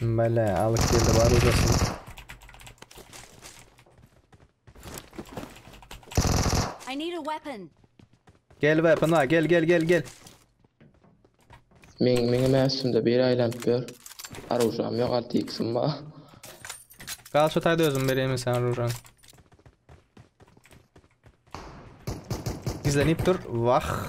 Bele alyp geldi var uzasın. I need a weapon. Gel weapon var gel gel gel gel. Men meňe mäsümde bir aýlanyp ber. Arujam ýok 6x-im bar. Gal şu tayda özüm bereyim sen Rujan. Gizlenip dur. Vah.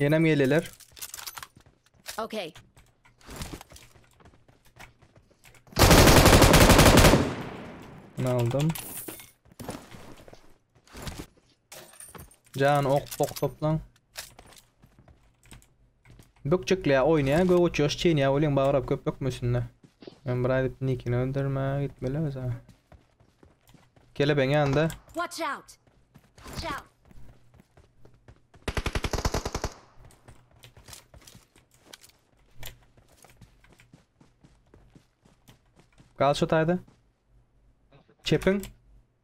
Yenem geleler. Okay. Ne aldım? Jany ok pok toplan. Bökjekle oýnaýa göw uçýaş çeýnýä welin bagrap köp bökmesinde. Men bir aýdyp nikini öldürme gitmeli öza. Kelebeň ýanda. Watch out. Watch out. Gal şu taýda. Çepin.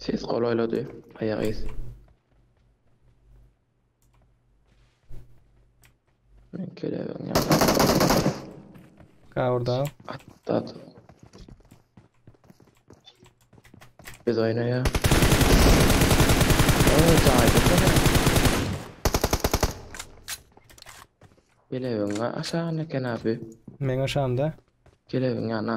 Ses golaýlady. Aýak iz. Men kelebiň ýanyna Gawurda. atladyk. Biz oýnaýa. Oý, jaýda köne. Kelebiň aşagyna eken abi. Meň aşamda. Kelebiň ýanyna.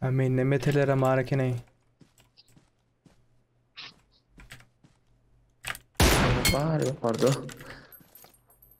Ha mende meteler hem bar eken ey. Bar ýokarda.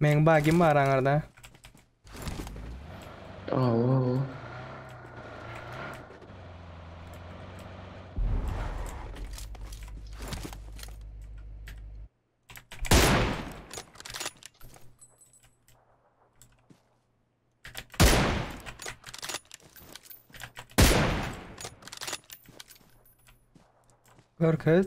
Meň bagim bar aňarda. Aw aw. Görkez.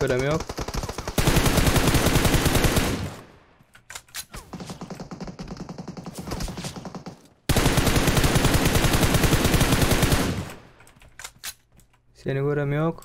Görem yok. Seni görem yok.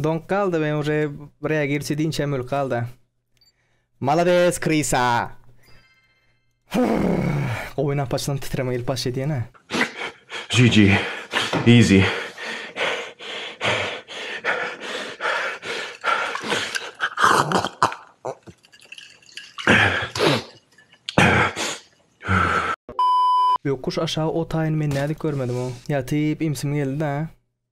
Doňup galdy men uje reagirçi diýinçem ölüp galda. Malades Krisa. Gowy napaçdan titreme gelip baş edýenä. GG. Easy. Öküş aşagy otaýyny men nädip görmedim o. Ýatyp imsim geldi da.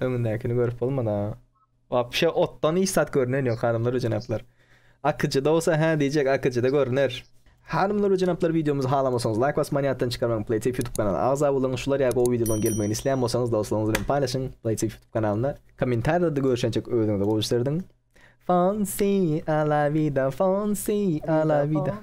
Öňündäkini görüp bolmady ha. Wapşe otdan hiç zat görnen ýok hanymlar we jenaplar. Akyjyda bolsa hä diýjek akyjyda görner. Hanymlar we jenaplar wideomyzy halamasaňyz laýk basmagyny ýatdan çykarmaň Playtip ýutub kanaly agza boluň şular ýa gowy wideolaryň gelmegini isleýän bolsaňyz dostlaryňyz bilen paýlaşyň Playtip ýutub kanalynda kommentarýalarda görüşençek özüňize gowy iş serediň. Fancy a la vida fancy a la vida.